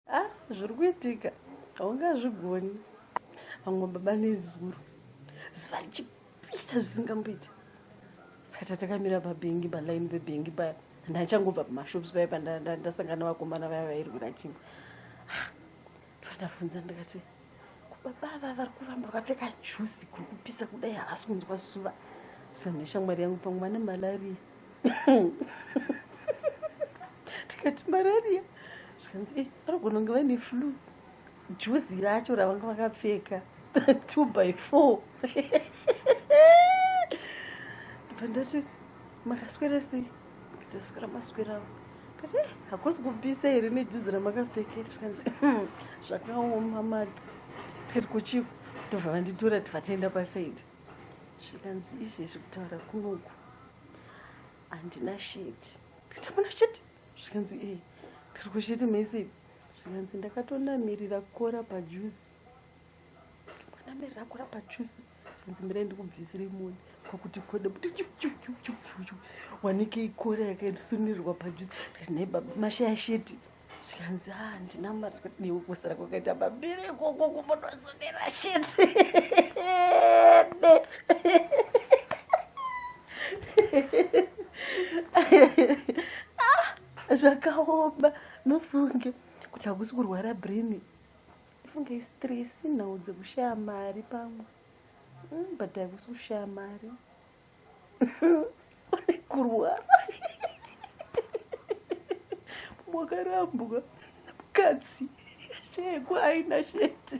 Ah, zviri kuitika haungazvigoni vamwe baba nezuro zuva richipisa zvisingamboiti saka tatakamira pabhengi palaini pebhengi paya ndaichangobva pamashops paya pandasangana vakomana vaya vairwira chimwe ah, ndovandavhunza ndikati Baba ava vari kuramba vakapfeka juzi kuri kupisa kudai havasi kunzwa zuva. Zvanhu neshamwari yangu pamwe vane malaria. Tikati malaria zvikanzi e eh, vanogona kunge vaine flu. Juzi racho ravanga vakapfeka two by four. Pandati makaswera sei? taswera maswerawo kati eh, hakusi kubvisa here nejuzi ramakapfekera zvikanzi hmm, zvakaoma madu kati kuchiko ndobva vanditora tivataenda pasaidi zvikanzi izvezvi kutaura kunoku handina sheti kati muna sheti zvikanzi e eh, kati kusheti maisidi zvikanzi ndakatonamirira kora pajuzi ndakatonamirira kora pajuzi nzimira ndikubvisiri moni kwakuti kode kuti wanike ikora yakaisunurirwa pajuzi ndikati baba mashaya sheti zvikanzi ha ah, ndina mari kuti newe kusara kwakaita mabere ikoko kumbonozonera sheti ah, zvakaoma nofunge kuti hakusi kurwara brini Funge stress nhau dzekushaya mari pamwe mm, but haikusi kushaya mari pane kurwara mwakarambwa mukadzi sheko aina sheti